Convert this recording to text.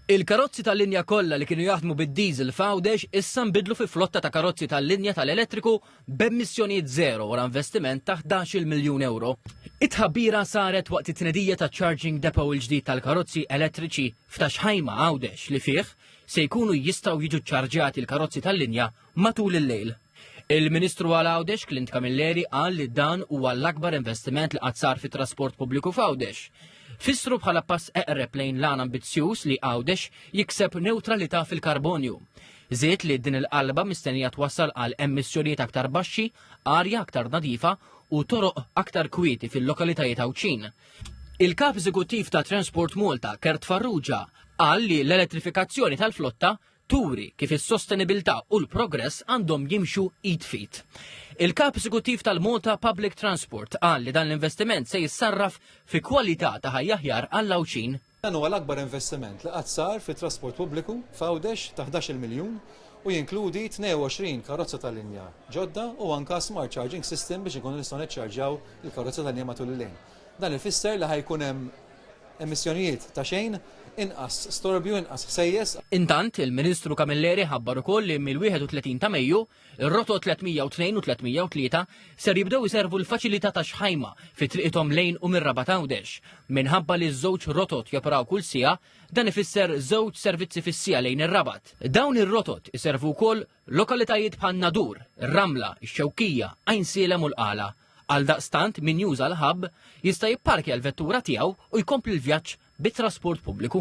Il-karozzi tal-linja kollha li kienu jaħdmu bid-diesel f'Għawdex issa nbidlu fi flotta ta' karozzi tal-linja tal-elettriku b'emissjonijiet żero wara investiment ta' ħdax-il miljun ewro. It-tħabbira saret waqt it-tnedija taċ-charging depot il-ġdid tal-karozzi elettriċi f'Ta' Xħajma, Għawdex, li fih se jkunu jistgħu jiġu ċċarġjati l-karozzi tal-linja matul il-lejl. Il-Ministru għal Għawdex Clint Camilleri qal li dan huwa l-akbar investiment li qatt sar fit-trasport pubbliku f'Għawdex. Fissru bħala pass eqreb lejn lan ambizzjuż li Għawdex jikseb neutralità fil-karbonju. Żied li din il-qalba mistennija twassal għal emissjonijiet aktar baxxi, arja aktar nadifa u toroq aktar kwieti fil-lokalitajiet Għawdxin. Il-kap eżekuttiv ta' Transport Malta, Kert Farrugia, qal li l-elettrifikazzjoni tal-flotta turi kif is-sostenibilità u l-progress għandhom jimxu id f'id. Il-Kap Eżekuttiv tal-Malta Public Transport qal li dan l-investiment se jissarraf fi kwalità ta' ħajja aħjar għall-Għawdxin. Dan huwa l-akbar investiment li qatt sar fit-trasport pubbliku f'Għawdex ta' ħdax-il miljun u jinkludi 22 karozza ta' linja ġodda u anke smart charging system biex inkunu nistgħu niċċarġjaw il-karozza ta' linja matul il-lejl. Dan ifisser li ħa jkun hemm emissjonijiet ta' xejn, inqas storbju, inqas ħsejjes. Intant, il-Ministru Camilleri ħabbar ukoll li mill-31 ta' Mejju, ir-rotot 302 u 303 ser jibdew iservu l-faċilità ta' Xħajma fi triqithom lejn u mir-Rabat Għawdex. Minħabba li ż-żewġ rotot joperaw kull siegħa, dan ifisser żewġ servizzi fis-siegħa lejn ir-Rabat. Dawn ir-rotot iservu wkoll Lokalitajiet bħal Nadur, ir-Ramla, ix-Xewkija, Għajn Sielem u l-Qala. Għaldaqstant min juża l-hub jista' jipparkja l-vettura tiegħu u jkompli l-vjaġġ bit-trasport pubbliku.